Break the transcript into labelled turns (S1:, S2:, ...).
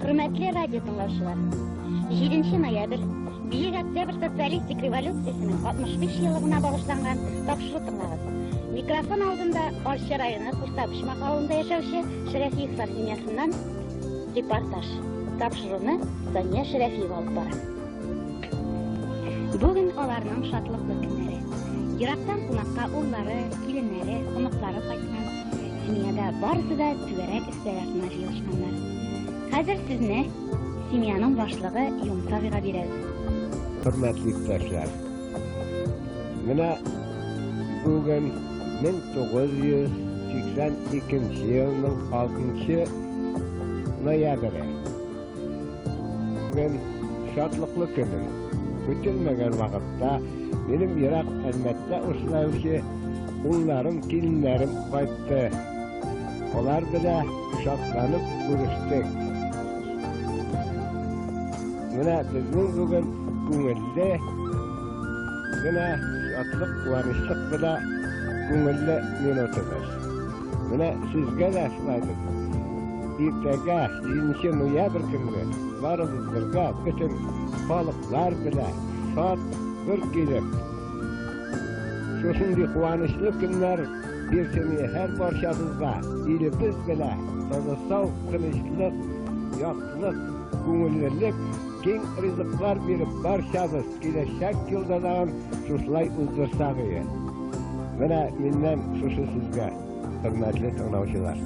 S1: Хөрмәтле радио тыңлаучылар, 7 ноябрь Бөек Октябрь социалистик революциясенең 65 еллыгына багышланган тапшыру тыңлагыз. Микрофон алдында Арча районы Куртабышмак авылында яшәүче Шәрәфиевлар семьясыннан репортаж. Тапшыруны Сания Шәрәфиева алып бара. Бүген аларның шатлыклы көннәре. Ерактан кунакка уллары, киленнәре, оныклары кайткан. Семьяда барысы да түгәрәк Яратма җыелышканнар. Хәзер сезне семьяның башлыгы Юмсавига
S2: бирәбез. Хөрмәтле иптәшләр. Менә бүген 1982 елның 6 ноябре. Бүген шатлыклы көнем. Көтелмәгән вакытта минем ерак Әлмәттә очлаучы улларым, киленнәрем кайтты. Алар белән шатланып күрештек. Менә безнең бүген күңелле генә шатлык, куанычлык белән күңелле минутыбыз. Менә сезгә дә шулай бит. Иртәгә, 7 ноябрь көнне, барыбыз бергә, бөтен халыклар белә, шат бер килеп. Шушындый куанычлы көннәр бирсене һәр барчабызга, илебез белә, тынычлык, тынычлык, яклык, күңеллелек, киң ризыклар биреп барчабыз. Киләчәк елда да шушылай уздырсак иде. Менә миннән шушы сезгә, хөрмәтле тыңлаучылар.